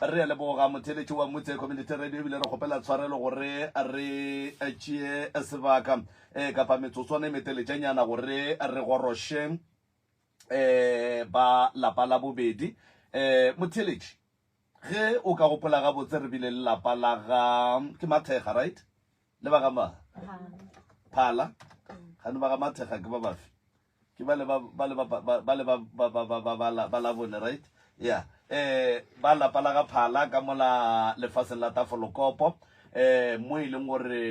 Re a leboga motheeletši wa Mutse Community Radio ebile re kgopela tshwarelo gore re tšee sebaka eh, kapa metsotswana e meteletšanyana gore re goroše eh, ba lapa la bobedi. Eh, motheeletši, ge o ka gopola gabotse re bile le lapa la ga ke Mathekga, right? Le ba ga ma phala gane ba ga mathekga ke ba bafe ke ba le ba ba le ba ba ba le ba ba ba ba ba ba la ba la bone right yeah eh ba lapa la ga phala ka mola lefaseng la tafolokopo eh mo e leng gore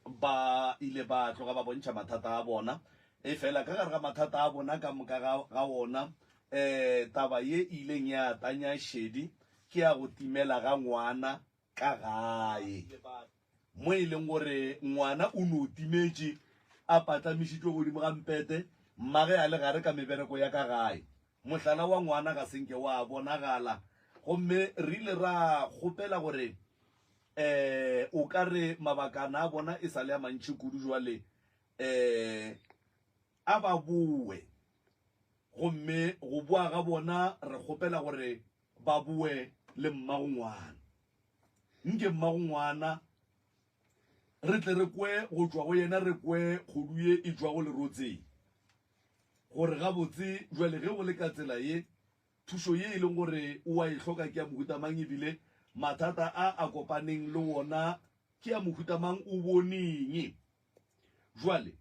ba ile ba tloga ba bontšha mathata a bona e fela ka gare ga mathata a bona ka moka ga ga ona eh taba ye e ileng ya tanya šedi ke ya go timela ga ngwana ka gae mo e leng gore ngwana o no timetše a patlamišitšwe godimo ga mpete mmage a le gare ka mebereko ya ka gae. Mohlala wa ngwana ga se nke wa bonagala gomme re ile ra kgopela gore um o ka re mabakana a bona e sa le a mantši kudu jwale um a ba bowe gomme go boa ga bona re kgopela gore Ba boe le mmagongwana. Nke mmagongwana re tle re kwe go tšwa go yena, re kwe kgodu ye e tšwago lerotseng, gore gabotse bjale ge go le ka tsela ye, thušo ye e leng gore o a e hloka ke ya mohuta mang e bile mathata a a kopaneng le wona ke ya mohuta mang, o boneng. Bjale,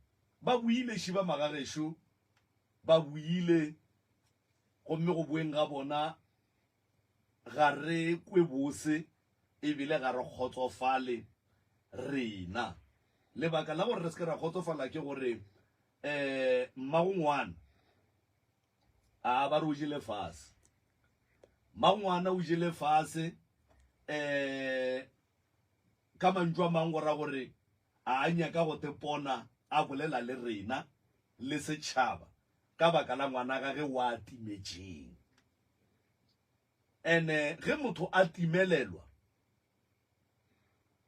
ba boile, ši ba magagešo, ba boile, gomme go boeng ga bona ga re kwe bose e bile ga re kgotsofale rena. Lebaka la gore re se ke ra kgotsofala ke gore um mmagongwana a ba re o jele fase. Mmagongwana o jele fase um ka mantšu a mangwe go ra gore. A a nyaka go te pona a bolela le rena le setšhaba ka baka la ngwanagage wa timetšeng. Ene ge motho a timelelwa,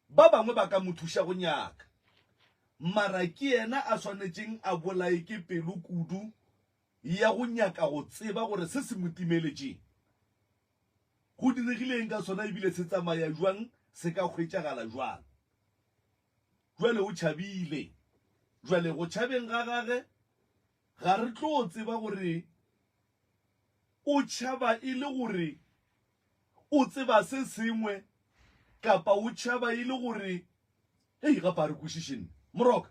ba bangwe ba ka mo thuša go nyaka, mara ke yena a swanetšeng a bolaye ke pelo kudu ya go nyaka go tseba gore se se mo timeletšeng Go diregile eng ka sona, ebile se tsamaya jwang, se ka hwetšagala jwang? Jwale o tšhabile. Jwale, go tšhabeng ga gage, ga re tlo tseba gore o tšhaba e le gore o tseba se sengwe kapa o tšhaba e le gore, hei, gape ga re kwešiše nna. Moroka,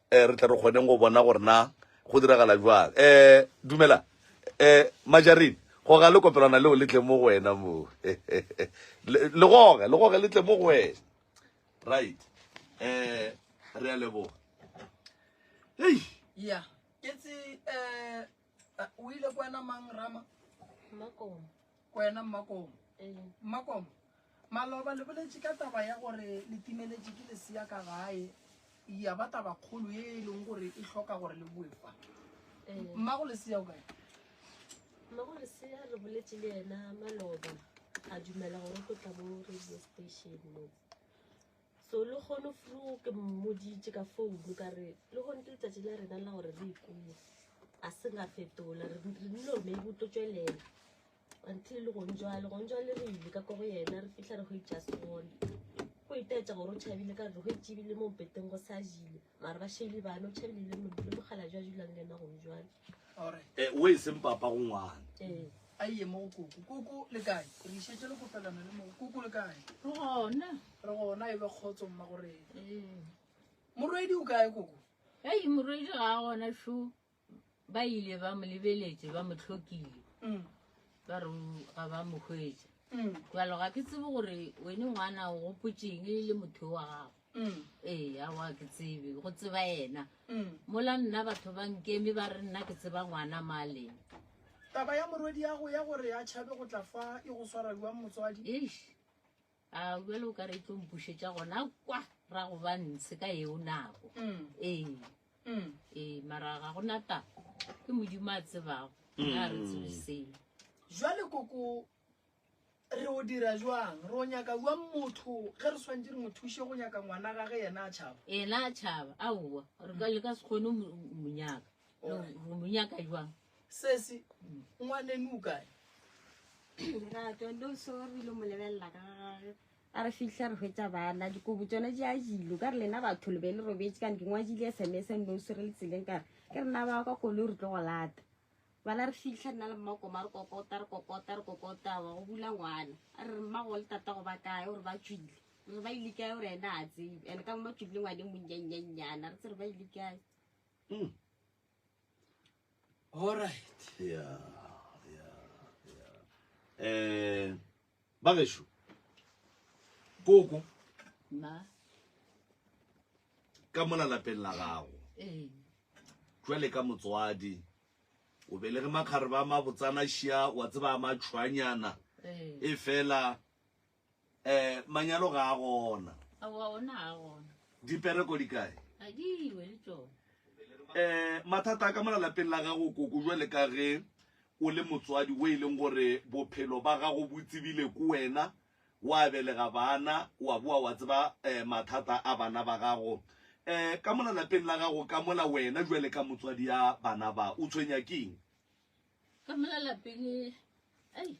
um re tle re kgoneng go bona gore na go diragala jwang um dumela um majarin goga le kopelwana leo le tle mo go wena moo le goge le goge le tle mo go wena right um re a leboga ei yeah. It's uh, Eh, o ile ko wena mang rama makomo ko wena mmakomo ee mmakomo maloba le boletše ka taba ya gore le timeletše ke lesea ka gae ya ba taba kgolo ye e leng gore e hloka gore le boe fa ee mmago lesea o kae mmago lesea re boletše le yena maloba a dumela gore o tlo tla mo radio station mo so le kgono fru ke mmoditše ka founu ka re le kgone ke letsatsi la rena la gore re ikuwe a se nga fetola re nile gore maybe o tlo tswelela until le gong jale gong jale re ile ka ko go yena re fitlha re go itsasone go itaetsa gore o tšhabile ka re go itsebile mo mpeteng go sa jile mara ba shele bana o tšhabile le mo- le mogala jwa dulang le ena gong jwale ore Eh, o e seng papa go ngwana ee a ye mo go koko koko le kae re išetse le kopelano le mo go koko le kae Re gona. re gona e be kgotso mma gore Ee. morwedi o kae koko Hei, morwedi ga a gona šo. ba ile ba mo lebeletše ba mo tlhokile mm. ba re ga ba mo hwetša mm. jalo ga ke tsebe gore wene ngwana o gopotšeng e le motho wa gago mm. ee a wa ke tsebe go tseba yena mola nna batho ba nkeme ba re nna ke tseba ngwana maleng taba ya morwedi yago ya gore a tšhabe go tla fa e go swaradiwang motswadi a bjale o ka re e tlo mpušetša gona kwa ra go ba ntshe ka eo nako ee ee mara ga gona taba ke modimo a tsebago a re tsebiseng jwale koko re o dira jwang re o nyaka jwang motho ge re swantse re mo thushe go nyaka ngwana gage yena a tšhaba ena a tšhaba aowa re ka le ka se kgone mo- monyaka re monyaka jwang Sesi, ngwaneno o kae? Lerato, no sorry lo molebelela ka gage. A re fitlha re hwetsa bana dikobo tsone di a jilo ka re lena batho le be le robetse kane ke ngwadile sms no sore le tseleng kare ke rena ba kwa kolo re tlo go lata bana re fitlha nna le mmakoma re kokota re kokota re kokota wa go bula ngwana a re mmago le tata go ba kae gore ba tswile re ba ile kae gore ena a tsebe and ka mo ba tswile ngwane monnyannyanyana re tse re ba ile kae hmm. All right. Yeah, yeah, yeah. Eh, bagesho. Koko. Ma. Ka mona lapeng la gago. Eh. Jwale ka motswadi. O belege makgareba ma botsana shia wa tseba ma tshwanyana. Eh. E fela Eh, manyalo ga a gona. Aowa, ona ga a gona. Dipereko di kae? A di iwe le tsone. Eh, mathata a ka mo lalapeng la gago koko jwa le ka ge o le motswadi o e leng gore bophelo ba gago bo tsebile ko wena wa belega bana wa boa wa tseba eh, mathata a bana ba gago eh, ka mo lalapeng la gago ka mola wena jwa le ka motswadi ya bana ba o tshwenya keng Ka mo lalapeng, ai,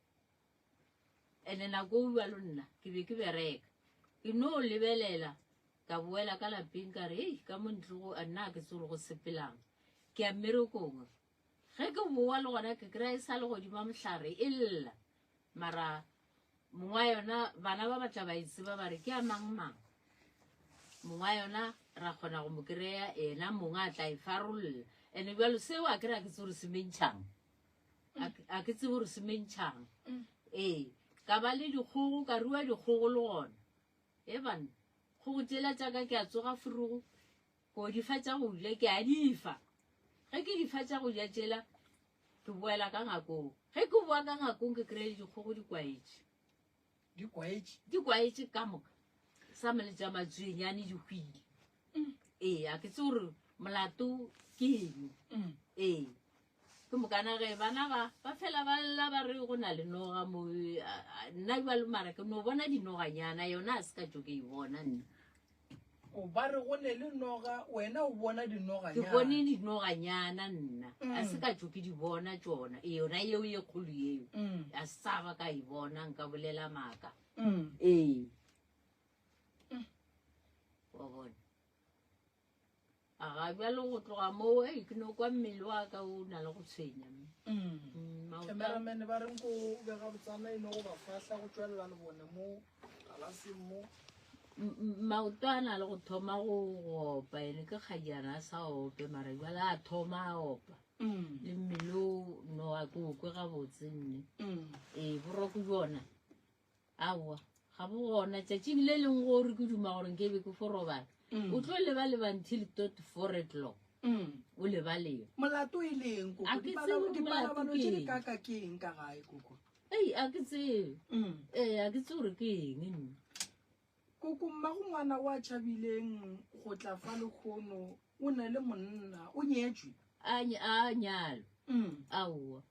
Ene nako ua lo nna ke be ke bereka, ke no lebelela ka boela ka lapeng ka re, Hei, ka mo ntlogo a nna ke tsore go sepelang, ke ya mmerekong. Ge ke boa le gona ke kry-a e sa le godima mohlare e lla. Mara mongwa yona bana ba batla ba e tseba ba re ke ya mang mang. Mongwa yona ra kgona go mo kry-a ena mongwa a tla e farolla. Ene bjalo seo a ke re a ke tsore se mentšhang. A ke tsebo gore se mentšhang. Mm. Ee, ka ba le dikgogo, ka rua dikgogo le gona. E banna, kgogo tšela tša ka ke a tsoga forogo, ko di fa tša go ja, ke a di fa. Ge ke di fa tša go ja tšela, ke boela ka ngakong. Ge ke boa ka ngakong, ke kry-e dikgogo di kwaetše. Di kwaetše. Di kwaetše ka moka. Sa mele tša matsuenyane di hwile. Mm. Ee, a ke tse gore molato ke eno. Mm. Ee. Ke mokana ge bana ba ba fela ba lla ba re go na le noga mo nna jwa le mara ke no bona dinoganyana yona a se ka tšo ke e bona nna. o ba re go ne le noga wena o bona dinoga ke bone dinoganyana nna mm. a se ka tso ke di bona tsona e yona yeo ye kgolo yeo mm. a sa ba ka e bona nka bolela maaka mm. ee wa bona a ga bjalo go tloga moo e ke no kwa mmele wa ka o na le go tshwenya mme Mm, maoto a- cameraman ba reng ko bega botsana e no go ba fahla go tšwelela le bone mo galaseng mo M- m- maoto a na le go thoma go go opa ene ke kgajana a sa ope mara jale a thoma a opa Mm, le mmele o no a ke okwe gabotse nne mm. ee boroko jona aowa ga bo gona tšatšing le leng gore ke duma gore nke be ke fo robala Mm. o tlo leba leba until tot four o'clock Mm. o lebaleba molato e leng koko A ke Dipala- tsebe gore dipalabalo molato tše ke di eng. kaka ke eng ka gae koko ei a ke tsebe Mm. ee a ke tse gore ke eng nna koko mmago ngwana o a tšhabileng go tla fa lekgono o ne le monna o nyetswe a ny- a nyalo Mm. aowa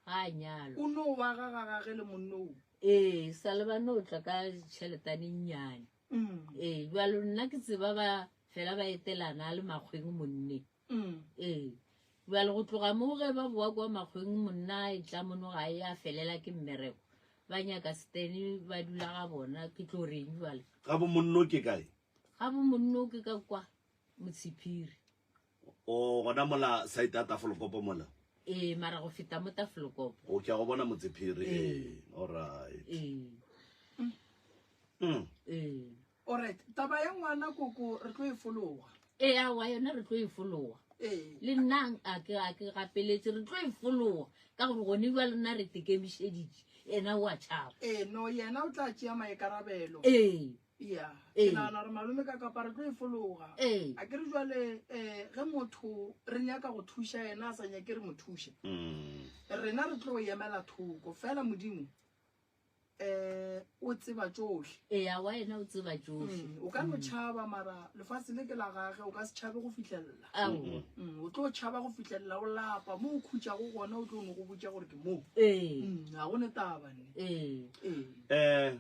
ga a nyalwa o no wa ga ga gage le monnoo ee sa le ba no tla ka tšheletane nnyane mm. ee jalo nna ke tseba ba fela ba etelana a le makgweng monne mm. ee jalo go tloga mo ge ba boa kwa makgweng monna e tla mono ga e a felela ke mmereko ba nyaka stene ba dula ga bona ke tlo reng jale ga bo monno ke kae ga bo monno ke ka kwa motshiphiri O gona mola side ya Tafolokopo mola? Ee, mara go feta mo Tafolokopo. O ke a go bona Motsephiri. Ee, all right. Ee. Mm. Ee. All right. Taba ya ngwana koko re tlo e fologa. Ee, a wa yona re tlo e fologa. Ee. Le nna a ke a ke gapeletse re tlo e fologa ka gore gone ba lena re tekemišeditše ena wa tšhaba. Ee, no yena o tla tšea maikarabelo. Ee. ya ke Ee. nagana gore malome ka kapa re tlo e fologa Ee. a ke re jwale um ge motho re nyaka go thuša yena a sa nyake re mo thuše Mm. rena re tlo emela thoko fela modimo um o tseba tsohle eya wa ena o tseba tsohle Mm, o ka no tšhaba mara lefatshe le ke la gage o ka se tšhabe go fitlhelela aowa Mm, o tlo tšhaba go fitlhelela o lapa mo o khutšago gona o tlo no go botša gore ke moo ee Mm, ga go ne taba ne ee ee Eh,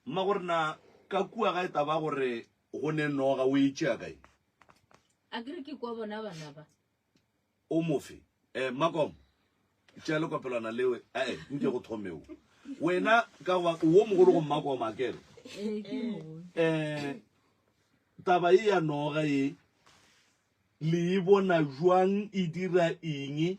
Mma gore na ka kua ga e taba gore go ne noga o e tšea kae? A ke re ke kwa bona bana ba. O mofe? Eh, Makom, tšea lekopelwana lewe. Eh, eh nke go thome o. Wena ka goba wo mogolo go Makom a kere. Eh, ke mogolo. Eh, taba e ya noga e le e bona jwang e dira eng?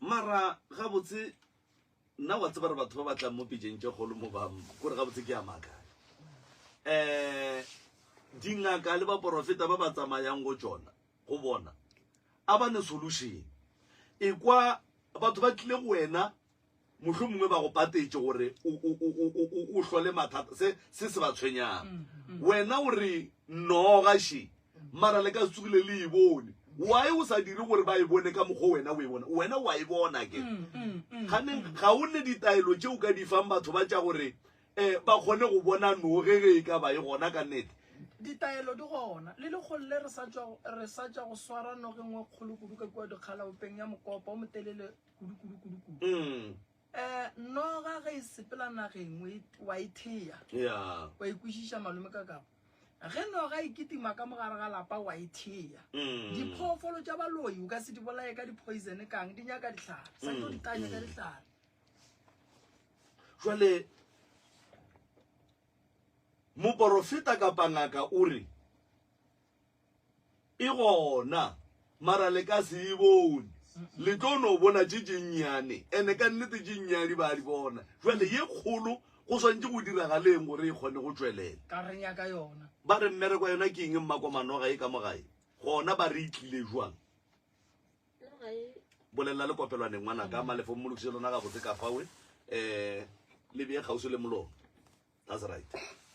Mara gabotse nna wa tseba re batho ba ba tlang mo pejeng tše kgolo mo ba kore gabotse ke ya makae um dingaka le baporofeta ba ba tsamayang go tsona go bona a ba ne solution ekwa batho ba tlile go wena Mohlomongwe ba go patetše gore o hlole mathata, se se se ba tshwenyang. Wena o re, Nnoo, gaši, mara le ka se tsogile le e bone. Why o sa dire gore ba e bone ka mokgwa wena o e bona? Wena wa e bona ke. Ganeng ga o ne ditaelo tše o ka di fang batho ba tša gore um ba kgone go bona noo ge ge e ka ba e gona ka nnete? Ditaelo di gona le lekgolo le re sa tšwa go swara noge nngwe kgolo kudu ka kua dikgalaopeng ya mokopa o motelele. Mm. Eh, noga ge e sepela nageng wa e thea wa ikwešiša malome ka kapa ge noga e ketima ka mogare ga lapa wa e thea mm. diphoofolo tša baloi o ka se di bolaye ka dipoisone kang di nyaka ditlhare sa tlo mm. ditanya ka ditlhare jale moporofeta kapa ngaka o re E gona, mara le ka se e bone. Le tlo no bona tše tše nnyane, ene ka nnete tše nnyane ba di bona. Jwale ye kgolo go swantše go diragaleng gore e kgone go tšwelela? Ka re nyaka yona. Ba re mmereko wa yona ke eng mmakwamanoga ye ka mo gae? Gona ba re e tlile jwang? Bolelela le kopelwaneng ngwanaka, malefo mmolokiše lona gabotse ka fawe, um le bee kgauswi le molomo. That's right.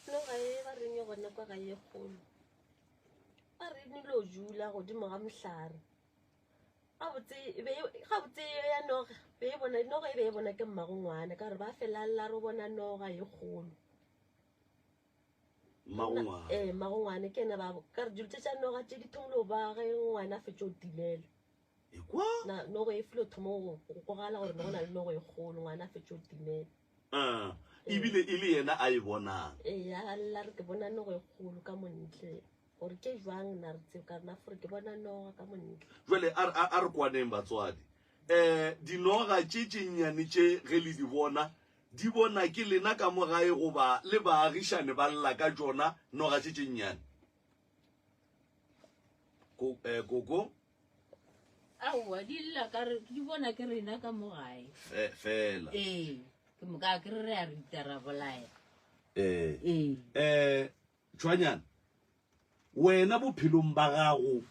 No ga e ba reng gona kwa ga ye kgolo. Ba re ni lo jula godimo ga mohlare. Ga botse e be ga botse ya noga be e bona noga e be e bona ke mmagongwana ka re ba felalla ro bona noga ye kgolo. Mmagongwana. Eh mmagongwana ke ena ba ka re dilo tša noga tše di thomile ba ge ngwana a fetša o tilela. ekwa na nogo e filo thomo go gogala gore nogo na le nogo e golo ngwana a fetše o timela um ebile e le yena a e bonang ee a lla re ke bona nogo e golo ka montle gore ke jwang na re tseo ka rena fore ke bona noga ka montle jale a re kwaneng batswadi um dinoga tše tše nnyane tše ge le di bona di bona ke lena ka mo gae goba le baagišane ba lla ka jona noga tše tše nnyane koko eh, aowa di lla ka re di bona ke rena ka mo gae Fe- fela ee ke moka ke re re a rita ra bolaya eh ee eh tšhwanyana wena bophelong ba gago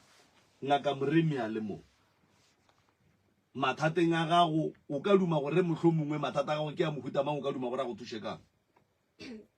ngaka moremi a le mong mathateng a gago o ka duma gore mohlomongwe mathata a gago ke a mohuta mang o ka duma gore a go thuše kang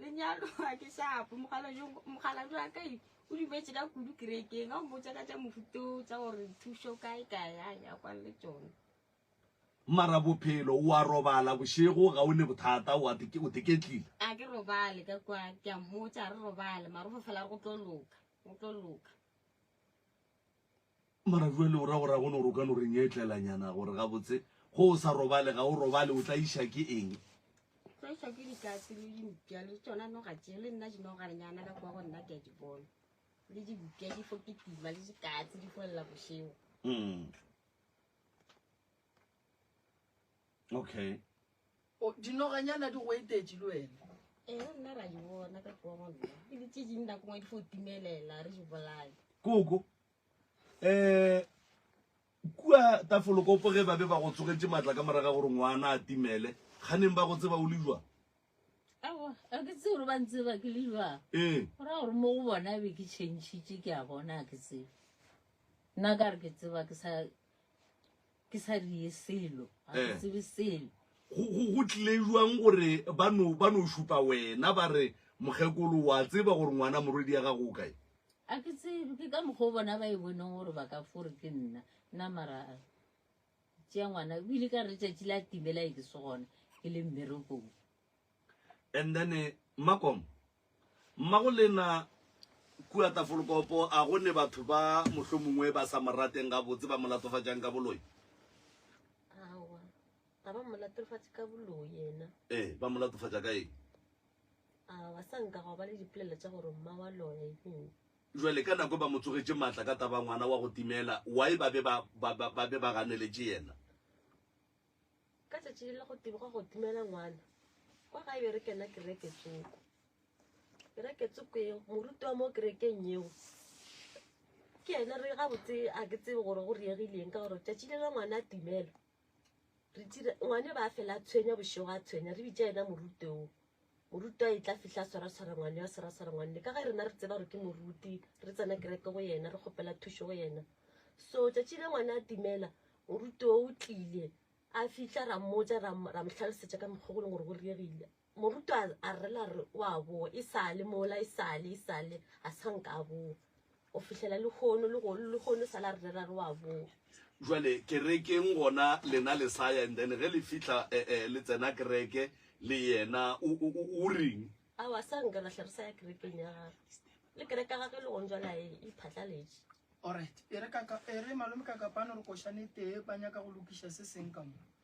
lenyalo a ke shapo mokgaladi wa ka o dumetse ka kudu kerekeng a o botsa ka tša mofuto tsa gore thušo kae kae a ya kwane le tsone mara bophelo wa robala bošego ga o ne bothata o teketlile a ke robale ka kwa ke a mmotsa re robale mara o fo fela re go tlo loka go tlo loka Mara jwale o ra gore a gone gore o ka no re nyetlelanyana gore gabotse go o sa robale ga o robale o tla iša ke eng tloša ke dikatse le dimpša le tsona noga tše le nna dinogarenyana ka kwa go nna ke a di bona le dimpša di fo ke tima le dikatse di folela bošego Mm. okay o dinoganyana di go etetše le wena ee nna ra di bona ka tloa gona e le tše ding nako ngwe di fo timelela re di bolae koko um eh, kua tafolokopo ge ba be ba go tsogetse maatla ka moraga gore ngwana a timele ga neng ba go tseba o le jwa aowa a ke tsee gore ba ntseba ke le jwa ee go raya gore mo go bona be ke changitše ke a bona a ke tsebe nna ka re ke tseba ke sa ke sa die selo ga ke eh. tsebe selo go tlile jwang gore ba no ba no šupa wena ba re mokgekolo wa tseba gore ngwana morwedi ya gago o kae a ke tsebe ke ka mokgwa o bona ba e boneng gore ba ka fore ke nna nna mara tšea ngwana o ile ka re tšatši la timela e ke se gona ke le mmerekong And then Mmakom, mmago lena kua Tafolkopo a go ne batho ba mohlomongwe ba sa morateng gabotse ba molatofatšang ka boloi? Awa, ga ba molatofatše ka boloi yena. Eh, ba molatofatša ka eng? Awa, sa nka go ba le dipolelo tša gore mma wa loya eng. Jwale ka nako ba mo tsogetše matla ka taba ngwana wa go timela, why ba be ba ba ba be ba ganeletše yena? Ka tšatši le la go teboga go dumela ngwana kwa gae be re kena kereke tsoko be re ketse ko eo moruti wa mo kerekeng yeo ke ene re ga botse a ke tsebe gore go riegileng ka gore tšatši le la ngwana a timela re tira ngwane ba fela a tshwenya bošego a tshwenya re bitša ena moruti oo Morutwa e tla fihla a swaraswara ngwane a swaraswara ngwane ka ge rena re tseba gore ke moruti re tsena kereke go yena re kgopela thušo go yena so tšatši le ngwana a timela morutwa o tlile a fihla ra mmotsa ra mohlalosetša ka mokgwa go leng gore go riegile morutwa a rela re o a boa e sale mola e sale e sale a sa nka a boa go fihlela lehono le go lehono sa la re rera re wa boa jwale kerekeng gona lena le saya and then ge le fihla eh, eh, le tsena kereke le yena o o- o- o reng a wa sa nka rahle re sa ya kerekeng ya gagwe le kereka gagwe le gong jwala e e phatlaletše alright e re kaka e re malome ka kapano re košane tee ba nyaka go lokiša se seng ka mo